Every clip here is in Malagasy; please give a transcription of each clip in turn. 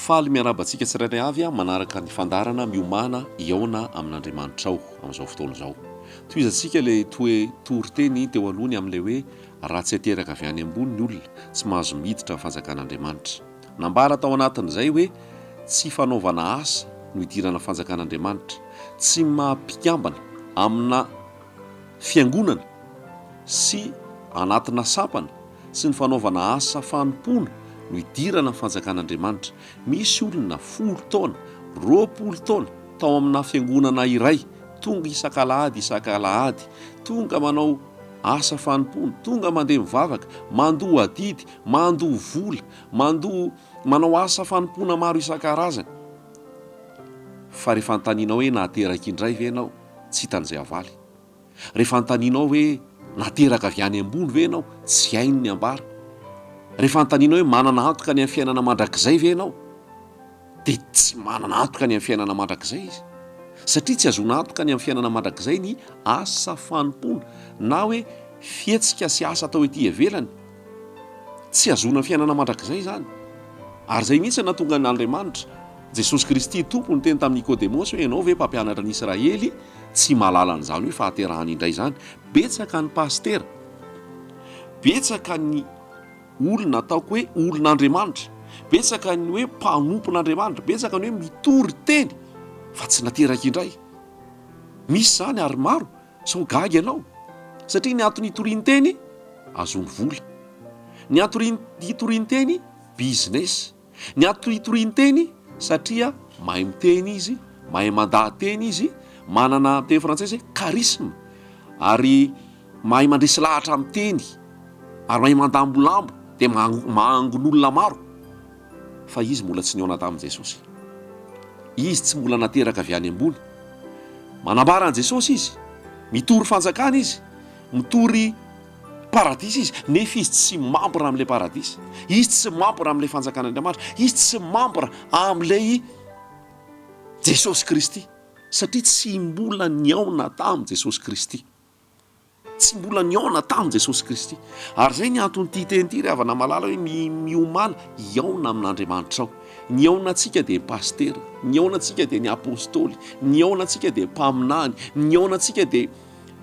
Faly miarahaba antsika tsirairay avy amin'ny manaraka ny fandaharana miomana hihaona amin'Andriamanitrao amin'izao fotoana izao. Tohizantsika ilay toe toriteny teo aloha ny amin'ilay hoe raha tsy ateraka avy any ambony ny olona, tsy mahazo miditra ny fanjakan'Andriamanitra. Nambara tao anatin'izay hoe tsy fanaovana asa no hidirana fanjakan'Andriamanitra. Tsy maha mpikambana amina fiangonana sy anatina sampana sy ny fanaovana asa fanompoana no hidirana fanjakan'Andriamanitra. Misy olona folo taona, roapolo taona tao amina fiangonana iray, tonga isak'alahady isak'alahady, tonga manao asa fanompoana, tonga mandeha mivavaka, mandoa adidy, Mandoa vola, mandoa, manao asa fanompoana maro isan-karazany. Fa rehefa anontanianao hoe nahateraka indray ve ianao, tsy hitan'izay havaly. Rehefa anontanianao hoe nateraka avy any ambony ve ianao, tsy hainy ny ambara. Rehefa anontanianao hoe manana antoka ny amin'ny fiainana mandrakizay ve ianao, dia tsy manana antoka ny amin'ny fiainana mandrakizay izy. Satria tsy hahazoana antoka ny amin'ny fiainana mandrakizay ny asa fanompoana, na hoe fihetsika sy asa atao ety ivelany. Tsy hahazoana fiainana mandrakizay izany. Ary izay mihitsy no nahatonga an' Andriamanitra, Jesosy Kristy Tompo niteny tamin'i Nikôdemôsy hoe, Ianao ve mpampianatra ny Israely tsy mahalala an'izany hoe fahaterahana indray izany? Betsaka ny pasitera, betsaka ny olona ataoko hoe olon'Andriamanitra, betsaka ny hoe mpanompon'Andriamanitra, betsaka ny hoe mitory teny fa tsy nateraky indray. Misy izany ary maro. Sao gaga ianao? Satria ny antony itorian-teny, ahazoany vola. Ny antony itorian-teny, business. Ny antony itorian-teny, satria mahay miteny izy, mahay mandaha-teny izy, manana, amin'ny teny frantsay izay, charisme, ary mahay mandresy lahatra amin'ny teny, ary mahay mandambolambo, dia maha-angon'olona maro. fa izy mbola tsy nihaona tamin'i Jesosy. Izy tsy mbola nateraka avy any ambony. Manambara an'i Jesosy izy, mitory fanjakana izy, mitory paradisa izy, nefa izy tsy mambra amin'ilay paradisa. Izy tsy mambra amin'ilay fanjakan'Andriamanitra. Izy tsy mambra amin'ilay Jesosy Kristy, satria tsy mbola nihaona tamin'i Jesosy Kristy. Tsy mbola nihaona tamin'i Jesosy Kristy. Ary izay ny anton'ity teny ity ry havana malala hoe mi, miomana hihaona amin'Andriamanitrao. Ny hihaona antsika dia pasitera, ny hihaona antsika dia ny apostoly, ny hihaona antsika dia mpaminany, ny hihaona antsika dia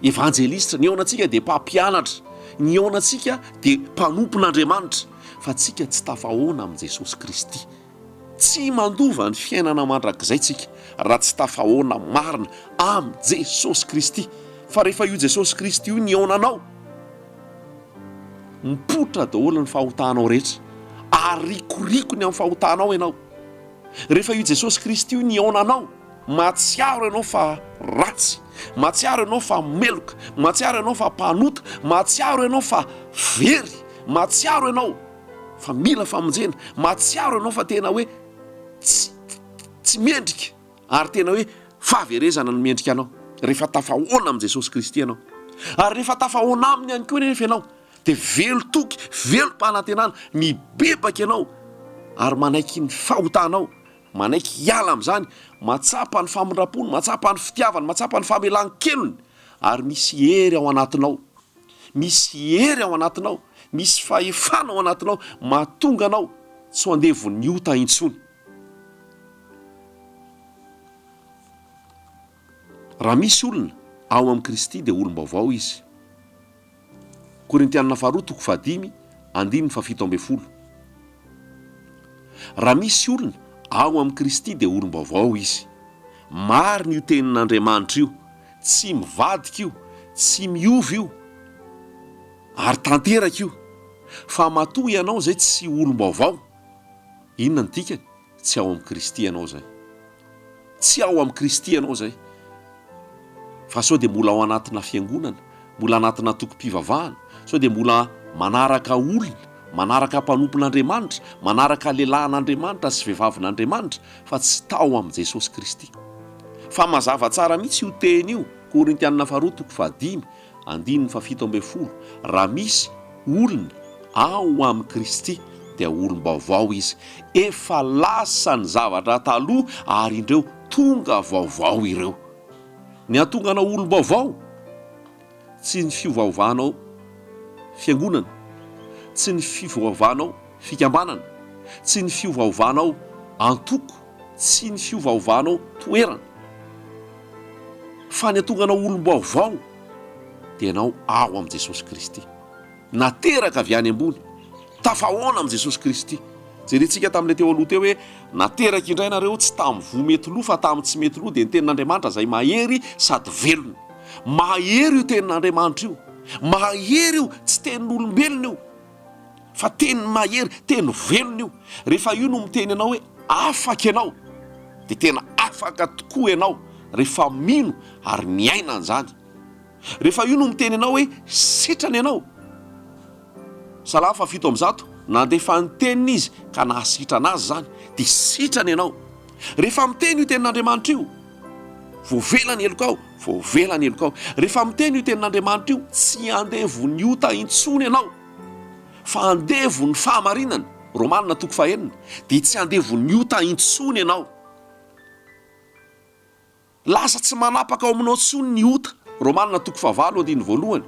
evanjelistra, ny hihaona antsika dia mpampianatra, ny hihaona antsika dia mpanompon'Andriamanitra, fa tsika tsy tafahaona amin'i Jesosy Kristy. Tsy mandova ny fiainana mandrakizay tsika raha tsy tafahaona marina am Jesosy Kristy fa rehefa io Jesosy Kristy io nihaona anao mipoitra daholo ny fahotanao rehetra ary rikorikony am fahotanao ianao rehefa io Jesosy Kristy io nihaona anao mahatsiaro ianao fa ratsy mahatsiaro ianao fa meloka mahatsiaro ianao fa mpanota mahatsiaro ianao fa very mahatsiaro ianao fa mila famonjena, mahatsiaro ianao fa tena hoe tsy tsy mendrika ary tena hoe fahaverezana no mendrika anao rehefa tafahoana amin'i Jesosy Kristy ianao ary rehefa tafahoana aminy ihany koa nefa ianao dia velon-toky, velom-panantenana, mibebaka ianao ary manaiky ny fahotanao, manaiky hiala amin'izany, mahatsapa ny famindram-pony, mahatsapa ny fitiavany, mahatsapa ny famelan-kelony ary misy hery ao anatinao. Misy hery ao anatinao, misy fahefana ao anatinao mahatonga anao tsy ho andevon'ny ota intsony. Raha misy olona ao amin'i Kristy dia olom-baovao izy. Korintianina faharoa toko fahadimy andininy fahafito ambin'ny folo. Raha misy olona ao amin'i Kristy dia olom-baovao izy. Marina io tenin'Andriamanitra io. Tsy mivadika io, tsy miova io ary tanteraka io fa matoa ianao izay tsy olom-baovao, inona no dikany? tsy ao amin'i Kristy ianao izay, tsy ao amin'i Kristy ianao izay fa sao dia mbola ao anatina fiangonana, mbola anatina antokom-pivavahana, sao dia mbola manaraka olona, manaraka mpanompon'Andriamanitra, manaraka lehilahin'Andriamanitra sy vehivavin'Andriamanitra, fa tsy tao amin'i Jesosy Kristy. Fa mazava tsara mihitsy io teny io, Korintianina Faharoa toko fahadimy, andininy fahafito ambin'ny folo, Raha misy olona ao amin'i Kristy, dia olom-baovao izy, efa lasa ny zavatra taloha, ary indreo tonga vaovao ireo. Ny hahatonga anao olom-baovao, tsy ny fiovaovanao fiangonana, tsy ny fiovaovanao fikambanana, tsy ny fiovaovanao antoko, tsy ny fiovaovanao toerana, fa ny hahatonga anao olom-baovao dia ianao ao amin'i Jesosy Kristy. Nateraka avy any ambony. Tafahaona amin'i Jesosy Kristy. Jerentsika tamin'ilay teo aloha teo hoe, Nateraka indray ianareo, tsy tamin'ny voa mety lo, fa tamin'ny tsy mety lo, dia ny Tenin'Andriamanitra izay mahery sady velona. Mahery io Tenin'Andriamanitra io. Mahery io, tsy tenin'olombelona io, fa teny mahery, teny velona io. Rehefa io no miteny anao hoe, Afaka ianao, dia tena afaka tokoa ianao, rehefa mino ary miaina an'izany. Rehefa io no miteny anao hoe sitrana ianao. Salamo fahafito amby zato, Nandefa ny teniny Izy ka nahasitrana azy izany, dia sitrana ianao. Rehefa miteny io tenin'Andriamanitra io, voavela ny helokao, voavela ny helokao. Rehefa miteny io tenin'Andriamanitra io, tsy andevon'ny ota intsony ianao, fa andevon'ny fahamarinana, Romana toko fahenina, dia tsy andevon'ny ota intsony ianao. Lasa tsy manapaka ao aminao intsony ny ota, Romana toko fahavalo andininy voalohany,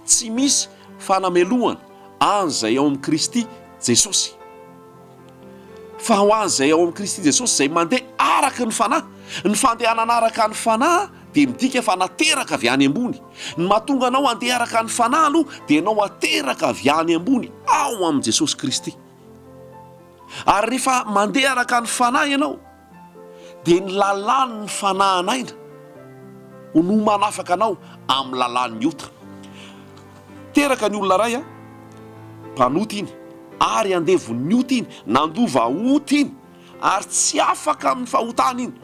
Tsy misy fanamelohana an'izay ao amin'i Kristy Jesosy, fa ho an'izay ao amin'i Kristy Jesosy izay mandeha araka ny Fanahy. Ny fandehanana araka ny Fanahy dia midika fa nateraka avy any ambony. Ny mahatonga anao handeha araka ny Fanahy aloha dia ianao ateraka avy any ambony ao amin'i Jesosy Kristy. Ary rehefa mandeha araka ny Fanahy ianao, dia ny lalàn' ny fanahan' aina no manafaka anao amin'ny lalàn' ny ota. Teraka ny olona iray an, mpanota iny, ary andevon' ny ota iny, nandova ota iny, ary tsy afaka amin'ny fahotana iny,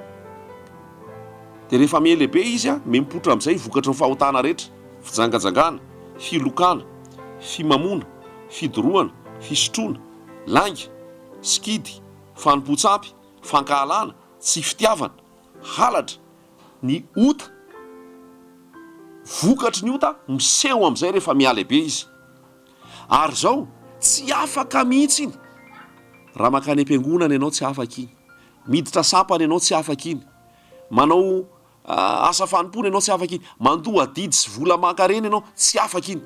dia rehefa mihelehibe izy an, mimpotra amin' izay vokatry ny fahotana rehetra, fijangajangana, filokana, fimamoana, fidorohana, fisotroana, lainga, sikidy, Fanompoan-tsampy, fankahalana, tsy fitiavana, halatra, ny ota, vokatry ny ota miseho amin'izay rehefa mihalehibe izy. Ary izao, tsy afaka mihitsy iny. Raha mankany am-piangonana ianao, tsy afaka iny. Miditra sampana ianao, tsy afaka iny. Manao asa fanompoana ianao, tsy afaka iny. Mandoa adidy sy vola aman-karena ianao, tsy afaka iny.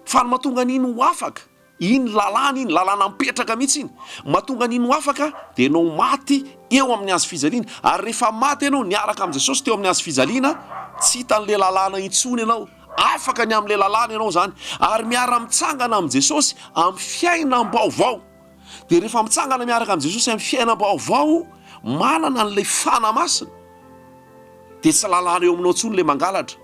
Fa ny mahatonga an'iny ho afaka, Iny lalàna iny, lalàna mipetraka mihitsy iny. Mahatonga ny hino afaka dia ianao maty eo amin'ny hazo fijaliana. Ary rehefa maty ianao niaraka amin'i Jesosy teo amin'ny hazo fijaliana, tsy hitan'ilay lalàna intsony ianao. Afaka ny amin'ilay lalàna ianao izany. Ary miara-mitsangana amin'i Jesosy amin'ny fiainam-baovao. Dia rehefa mitsangana miaraka amin'i Jesosy amin'ny fiainam-baovao, manana an'ilay Fanahy Masina, dia tsy lalàna eo aminao intsony ilay mangalatra,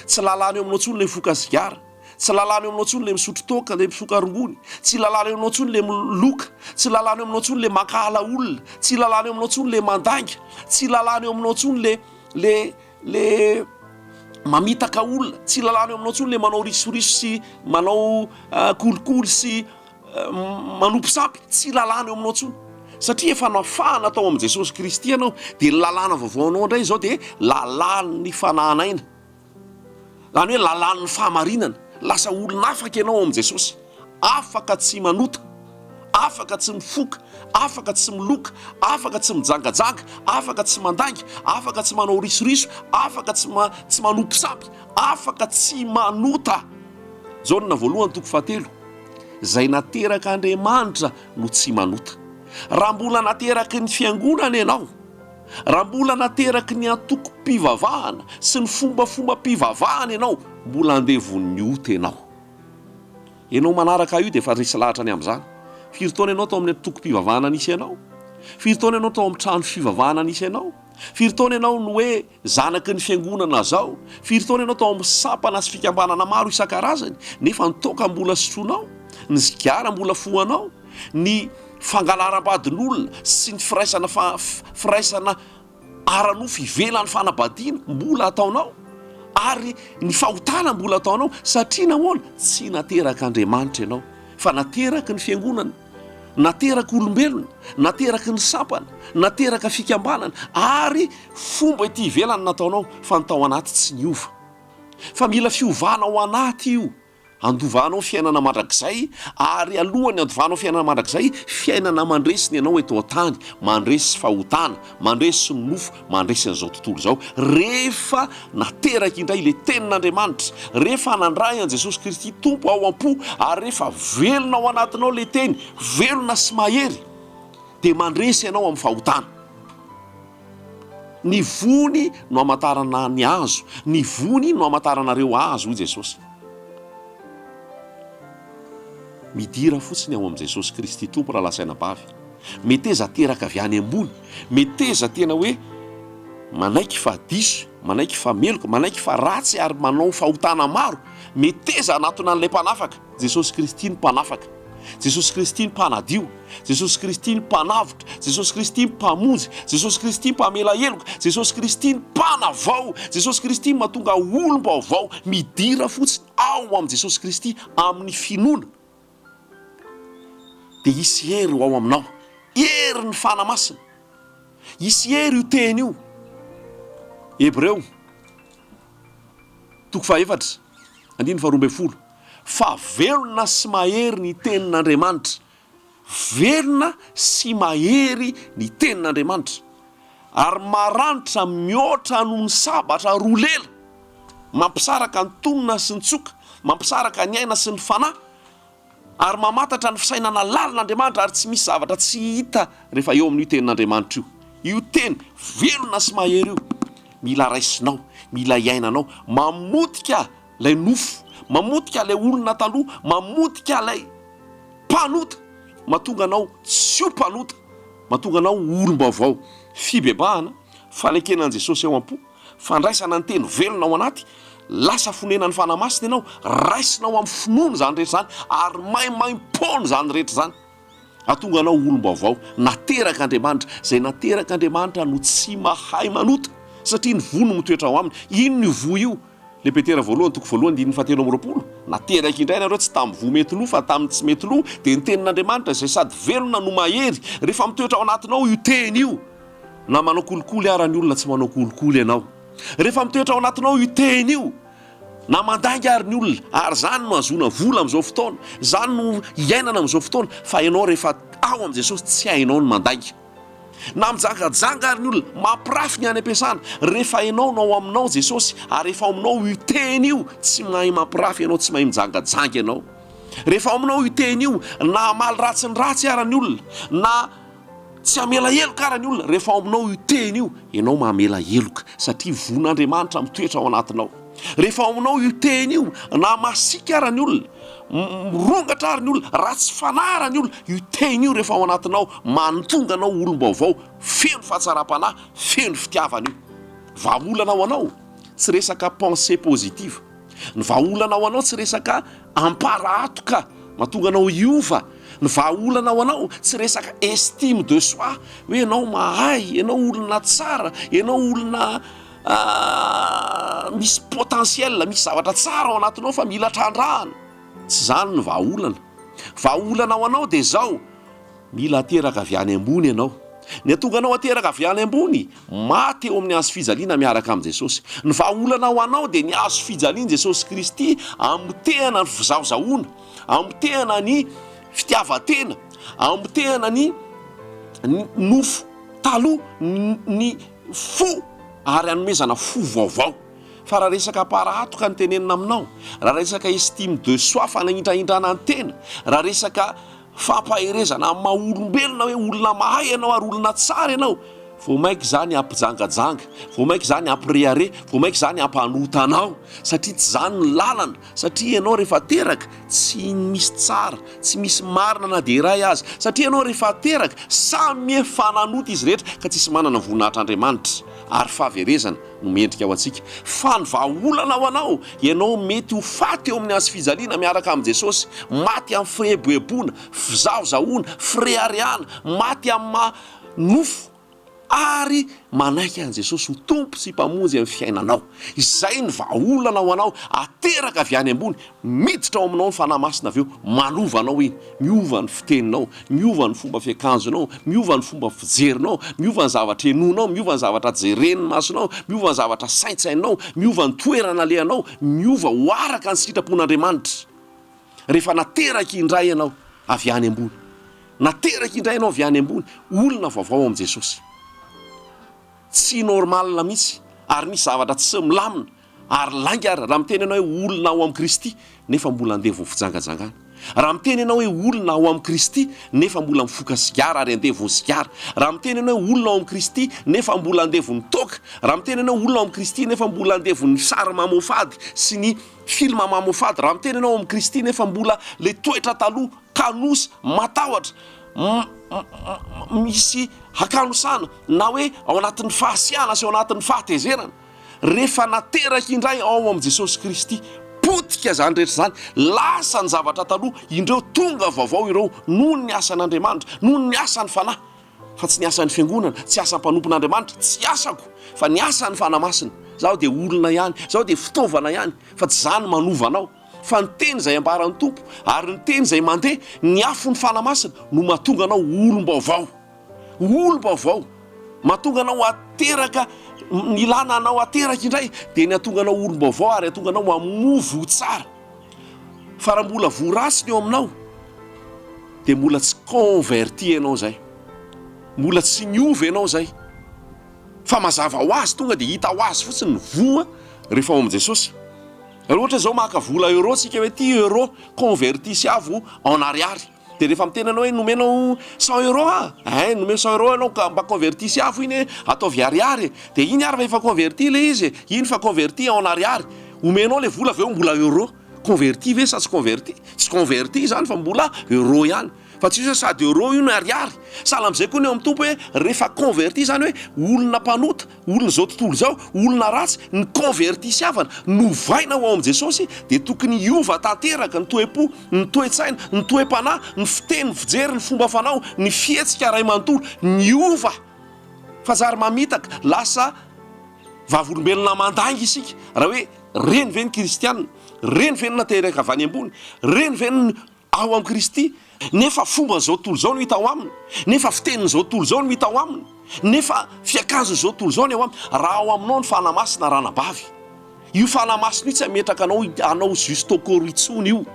tsy lalàna eo aminao intsony ilay voka sigara, Tsy lalàna eo aminao intsony ilay misotro toaka, ilay mifoka rongony. Tsy lalàna eo aminao intsony ilay miloka. Tsy lalàna eo aminao intsony ilay mankahala olona. Tsy lalàna eo aminao intsony ilay mandainga. Tsy lalàna eo aminao intsony ilay le le mamitaka olona. Tsy lalàna eo aminao intsony ilay manao risoriso sy manao kolikoly sy manompo sampy. Tsy lalàna eo aminao intsony satria efa nafahana tao amin'i Jesosy Kristy ianao, dia ny lalàna vaovao anao indray izao dia lalàn'ny fanahana aina. Izany hoe lalàn'ny fahamarinana. Lasa olona afaka ianao ao amin'i Jesosy, afaka tsy manota, afaka tsy mifoka, afaka tsy miloka, afaka tsy mijangajanga, afaka tsy mandainga, afaka tsy manao risoriso, afaka tsy tsy manopy sampy, afaka tsy manota. Jaona voalohany toko fahatelo, izay naterak'Andriamanitra no tsy manota. Raha mbola nateraky ny Fiangonana ianao, Raha mbola nateraky ny antokom-pivavahana sy ny fombafombam-pivavahana ianao, mbola handeha vonon'ny ota ianao. Ianao manaraka ahy io dia efa resy lahatra ny amin'izany. Firy taona ianao tao amin'ny antokom-pivavahana nisy anao? Firy taona ianao tao amin'ny trano fivavahana nisy anao? Firy taona ianao no hoe zanaky ny fiangonana izao? Firy taona ianao tao amin'ny sampana sy fikambanana maro isan-karazany, nefa ny toaka mbola sotroinao? Ny sigara mbola fohanao? ny fangalaram-badin'olona sy ny firaisana fa firaisana ara-nofo ivelan'ny fanambadiana mbola ataonao ary ny fahotana mbola ataonao satria nahoana tsy nateraka Andriamanitra ianao fa nateraky ny fiangonana nateraka olombelona nateraky ny sampana nateraka fikambanana ary fomba ity ivelany nataonao fa ny tao anaty tsy niova fa mila fiovana ao anaty io Handovanao fiainana mandrakizay, ary alohan'ny handovanao fiainana mandrakizay, fiainana mandresy ny anao eto an-tany, mandresy fahotana, mandresy ny nofo, mandresy an'izao tontolo izao. Rehefa nateraka indray ilay Tenin'Andriamanitra, rehefa nandray an'i Jesosy Kristy Tompo ao am-po, ary rehefa velona ao anatinao ilay Teny, velona sy mahery, dia mandresy anao amin'ny fahotana. Ny vony no hamantarana ny hazo, ny vony no hamantarana ireo hazo, hoy Jesosy. Midira fotsiny ao amin'i Jesosy Kristy Tompo raha lazaina bavy. Meteza teraka avy any ambony, meteza tena hoe manaiky fa diso, manaiky fa meloka, manaiky fa ratsy ary manao fahotana maro, meteza hanatona an'ilay Mpanafaka. Jesosy Kristy ny Mpanafaka. Jesosy Kristy ny Mpanadio. Jesosy Kristy ny Mpanavotra. Jesosy Kristy ny Mpamonjy. Jesosy Kristy Mpamela heloka. Jesosy Kristy ny Mpanavao. Jesosy Kristy ny Mahatonga olom-baovao. Midira fotsiny ao amin'i Jesosy Kristy amin'ny finoana dia hisy hery ho ao aminao. Herin'ny Fanahy Masina. Hisy hery io teny io. Hebreo, toko faha efatra, andininy faharoa ambin'ny folo. fa velona sy mahery ny Tenin'Andriamanitra, velona sy mahery ny Tenin'Andriamanitra, ary maranitra mihoatra noho ny sabatra roa lela, mampisaraka ny tonona sy ny tsoka, mampisaraka ny aina sy ny fanahy, ary mamantatra ny fisainana lalin'Andriamanitra, ary tsy misy zavatra tsy hita rehefa eo amin'io Tenin'Andriamanitra io. Io Teny velona sy mahery io, mila raisinao, mila iainanao, mamotika, Ilay nofo mamotika ilay olona taloha, mamotika ilay mpanota, mahatonga anao tsy ho mpanota, mahatonga anao ho olom-baovao. Fibebahana, fanekena an'i Jesosy ao am-po, fandraisana ny teny velona ao anaty, lasa fonenan'ny Fanahy Masina ianao, raisinao amin'ny finoana izany rehetra izany ary maimaimpoana izany rehetra izany. Hahatonga anao ho olom-baovao, naterak' Andriamanitra. Izay naterak' Andriamanitra no tsy mahay manota, satria ny voa no mitoetra ao aminy. Inona io voa io? Ilay Petera voalohany toko voalohany andininy fahatelo amby roapolo, Nateraka indray ianareo, tsy tamin'ny voa mety lo, fa tamin'ny tsy mety lo, dia ny Tenin' Andriamanitra, izay sady velona no mahery. Rehefa mitoetra ao anatinao io Teny io, na manao kolikoly ara ny olona tsy manao kolikoly ianao, rehefa mitoetra ao anatinao io Teny io, Na mandainga ary ny olona, ary izany no ahazoana vola amin'izao fotoana, izany no iainana amin'izao fotoana, fa ianao rehefa ao amin'i Jesosy tsy hainao ny mandainga. Na mijangajanga ary ny olona, mampirafy ny any am-piasana, rehefa ianao no ao aminao Jesosy, ary rehefa ao aminao io teny io, tsy mahay mampirafy ianao, tsy mahay mijangajanga ianao. Rehefa ao aminao io teny io, na hamaly ratsy ny ratsy ara ny olona, na. Tsy hamela heloka àry ny olona rehefa ao aminao io teny io, ianao mamela heloka, satria vonin'Andriamanitra mitoetra ao anatinao. Rehefa ao aminao io teny io, na masiaka àry ny olona, mirongatra àry ny olona, ratsy fanahy àry ny olona, io teny io rehefa ao anatinao, manontonga anao olom-baovao, feno fahatsaram-panahy, feno fitiavana io. Vahaolana ho anao, tsy resaka pensée positive. Ny vahaolana ho anao tsy resaka. Ampara ato ka! Mahatonga anao hiova ny vahaolana ao anao, tsy resaka estime de soi hoe ianao mahay, ianao olona tsara, ianao olona misy potentiel, misy zavatra tsara ao anatinao fa mila trandrahana, tsy izany ny vahaolana. Vahaolana ao anao dia izao. Mila ateraka avy any ambony ianao. Ny hahatonga anao ateraka avy any ambony, maty eo amin'ny hazo fijaliana miaraka amin'i Jesosy. Ny vahaolana ho anao dia ny hazo fijalian'i Jesosy Kristy amotehana ny fizahozahoana, amotehana ny fitiavan-tena, amotehana ny nofo taloha, ny fo, ary hanomezana fo vaovao. Fa raha resaka para hatoka no tenenina aminao, raha resaka estime de soi, fanahindrahindrana ny tena, raha resaka. Fampaherezana amin'ny maha olombelona hoe olona mahay ianao ary olona tsara ianao, vao mainka izany hampijangajanga, vao mainka izany hampirehareha, vao mainka izany hampanota anao satria tsy izany ny lalana, satria ianao rehefa teraka tsy misy tsara, tsy misy marina na dia iray aza, satria ianao rehefa teraka samy efa nanota izy rehetra ka tsisy manana ny voninahitr'Andriamanitra ary fahaverezana. no mendrika ho antsika. Fa ny vahaolana ho anao, ianao mety ho faty eo amin'ny hazofijaliana miaraka amin'i Jesosy, maty amin'ny fieboeboana, fizahozahoana, fireharehana, maty amin'ny maha nofo, ary manaiky an'i Jesosy ho Tompo sy Mpamonjy amin'ny fiainanao. Izay ny vahaolana ho anao, ateraka avy any ambony, Miditra ao aminao ny Fanahy Masina avy eo, manova anao iny, miova ny fiteninao, miova ny fomba fiakanjonao, miova ny fomba fijerinao, miova ny zavatra henoinao, miova ny zavatra jeren'ny masonao, miova ny zavatra saintsainao, miova ny toerana alehanao, miova ho araka ny sitrapon'Andriamanitra. Rehefa nateraka indray ianao avy any ambony, nateraka indray ianao avy any ambony, olona vaovao amin'i Jesosy. Tsy normal mihitsy, ary misy zavatra tsy milamina. Ary lainga ary, raha miteny ianao hoe olona ao amin'i Kristy, nefa mbola handeha vao fijangajangana. Raha miteny ianao hoe olona ao amin'i Kristy, nefa mbola mifoka sigara ary handeha vao sigara. Raha miteny ianao hoe olona ao amin'i Kristy, nefa mbola handeha vao ny toaka. Raha miteny ianao olona ao amin'i Kristy, nefa mbola handeha vao ny sary mamoafady sy ny filma mamoafady. Raha miteny ianao ao amin'i Kristy, nefa mbola ilay toetra taloha, kanosa, matahotra, misy hakanosana, na hoe ao anatin'ny fahasiahana sy ao anatin'ny fahatezerana. Rehefa nateraka indray ao amin'i Jesosy Kristy, potika izany rehetra izany, lasa ny zavatra taloha, indreo tonga vaovao ireo noho ny asan'Andriamanitra, noho ny asan'ny Fanahy, fa tsy ny asan'ny fiangonana, tsy asan'ny mpanompon'Andriamanitra, tsy asako, fa ny asan'ny Fanahy Masina. Izaho dia olona ihany, izaho dia fitaovana ihany, fa tsy izaho no manova anao, fa ny teny izay ambaran'ny Tompo, ary ny teny izay mandeha, ny afon'ny Fanahy Masina, no mahatonga anao olom-baovao. Olom-baovao, mahatonga anao hateraka, ny ilàna anao hateraka indray dia ny hahatonga anao olom-baovao ary hahatonga anao hamoa voa tsara. Fa raha mbola voa ratsy ny ao aminao dia mbola tsy converti ianao izay, mbola tsy niova ianao izay, fa mazava ho azy, tonga dia hita ho azy fotsiny ny voa rehefa ao amin'i Jesosy. Raha ohatra izao maka vola euro isika hoe ity euro, converti sy avo en ariary. Dia rehefa miteny anao hoe nomena aho cent euros ah, eh nomena cent euros ianao ka mba convertissy afo iny eh, ataovy ariary eh, dia iny ary fa efa converti ilay izy eh, iny fa converti en ariary, omenao ilay vola avy eo mbola euros, converti ve sa tsy converti? tsy converti izany fa mbola euros ihany, fa tsy misy hoe sady euros io no ariary, sahala amin'izay koa ny eo amin'ny Tompo hoe rehefa converti izany hoe olona mpanota, Olona izao tontolo izao, olona ratsy, ny convertis havana, novaina ho ao amin'i Jesosy dia tokony hiova tanteraka ny toe-po, ny toe-tsaina, ny toe-panahy, ny fiteny, ny fijery, ny fomba fanao, ny fihetsika iray manontolo. Niova fa zary mamitaka, lasa vavolombelona mandainga isika raha hoe reny ve ny kristiana? Reny ve ny nateraka avy any ambony? Reny ve ny ao amin'i Kristy, nefa fomban'izao tontolo izao no hita ao aminy, nefa fitenin'izao tontolo izao no hita ao aminy, nefa fiakanjon'izao tontolo izao ny ao aminy, raha ao aminao ny Fanahy Masina ranabavy, io Fanahy Masina io tsy hametraka anao hanao juste au corps intsony io,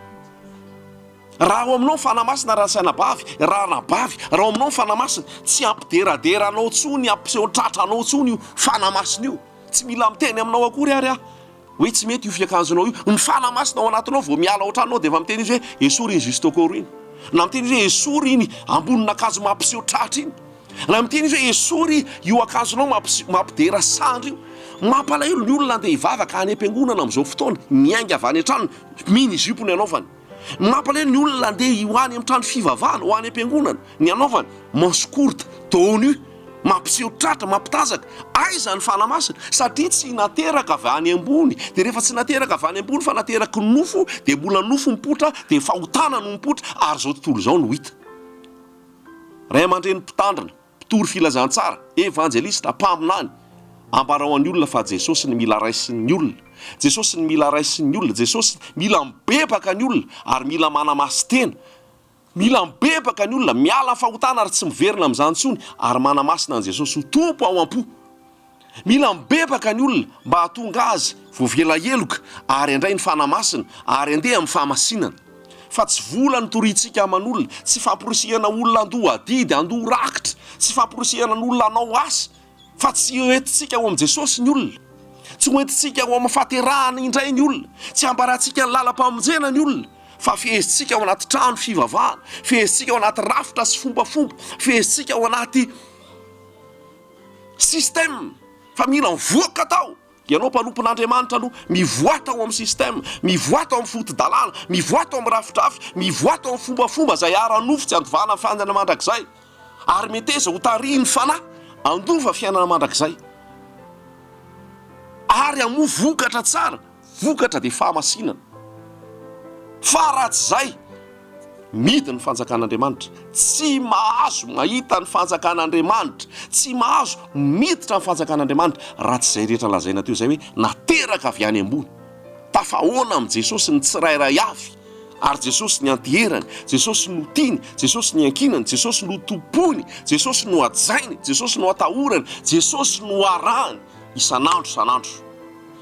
raha ao aminao ny Fanahy Masina rasainabavy, ranabavy, raha ao aminao ny Fanahy Masina tsy hampideradera anao intsony, hampiseho tratra anao intsony io Fanahy Masina io, tsy mila miteny aminao akory ary aho. Hoe tsy mety io fiakanjonao io. Ny fanahy masina ao anatinao vao miala ao an-tranonao dia efa miteny izy hoe esory iny justo corps iny. Na miteny izy hoe esory iny ambonin'akanjo mampiseho tratra iny. Na miteny izy hoe esory io akanjonao mampidera sandry io. Mampalahelo ny olona andeha hivavaka any am-piangonana amin'izao fotoana, miainga avy any an-tranony, mini-jupe ny anaovany. Mampalahelo ny olona andeha ho any amin'ny trano fivavahana, ho any am-piangonana, ny hanaovany manche courte, dos nu, mampiseho tratra, mampitazaka, aiza ny fanahy masina? Satria tsy nateraka avy any ambony, dia rehefa tsy nateraka avy any ambony fa nateraky ny nofo dia mbola nofo mipoitra, dia fahotana no mipoitra, ary izao tontolo izao no hita. Ray aman-dreny mpitandrina. Mpitory filazantsara, evanjelista, mpaminany, ambarao an'ny olona fa Jesosy ny mila raisin'ny olona, Jesosy ny mila raisin'ny olona, Jesosy mila mibebaka ny olona ary mila manamasin-tena, mila mibebaka ny olona, miala fahotana ary tsy miverina amin'izany intsony ary manamasina an'i Jesosy ho Tompo ao am-po. Mila mibebaka ny olona mba hahatonga azy voavela heloka ary handray ny Fanahy Masina ary handeha amin'ny fahamasinana. Fa tsy vola no toriantsika aman'olona, tsy famporisihana olona handoa adidy, handoa rakitra, tsy famporisihana ny olona hanao asa, fa tsy hoentintsika ao amin'i Jesosy ny olona. Tsy hoentintsika ao amin'ny fahaterahana indray ny olona, tsy hambarantsika ny lalam-pamonjena ny olona, fa fehezintsika ao anaty trano fivavahana, fehezintsika ao anaty rafitra sy fombafomba, fehezintsika ao anaty. System, fa mila mivoaka tao, ianao mpanompon'Andriamanitra aloha, mivoaha tao amin'ny system, mivoaha tao amin'ny fotodalàna, mivoaha tao amin'ny rafidrafy, mivoaha tao amin'ny fombafomba izay ara-nofo tsy andovahanan'ny fiainana mandrakizay, ary meteza ho tarihin'ny fanahy handova fiainana mandrakizay, ary hamoa vokatra tsara. Vokatra dia fahamasinana. Fa raha tsy izay, mihidy ny fanjakan'Andriamanitra. Tsy mahazo mahita ny fanjakan'Andriamanitra, tsy mahazo miditra ny fanjakan'Andriamanitra, raha tsy izay rehetra lazaina teo izay hoe nateraka avy any ambony. Tafahaona amin'i Jesosy ny tsirairay avy, ary Jesosy nianteherany, Jesosy notiany, Jesosy niankinany, Jesosy notompoiny, Jesosy nohajainy, Jesosy noatahorany, Jesosy noharahany isan'andro isan'andro.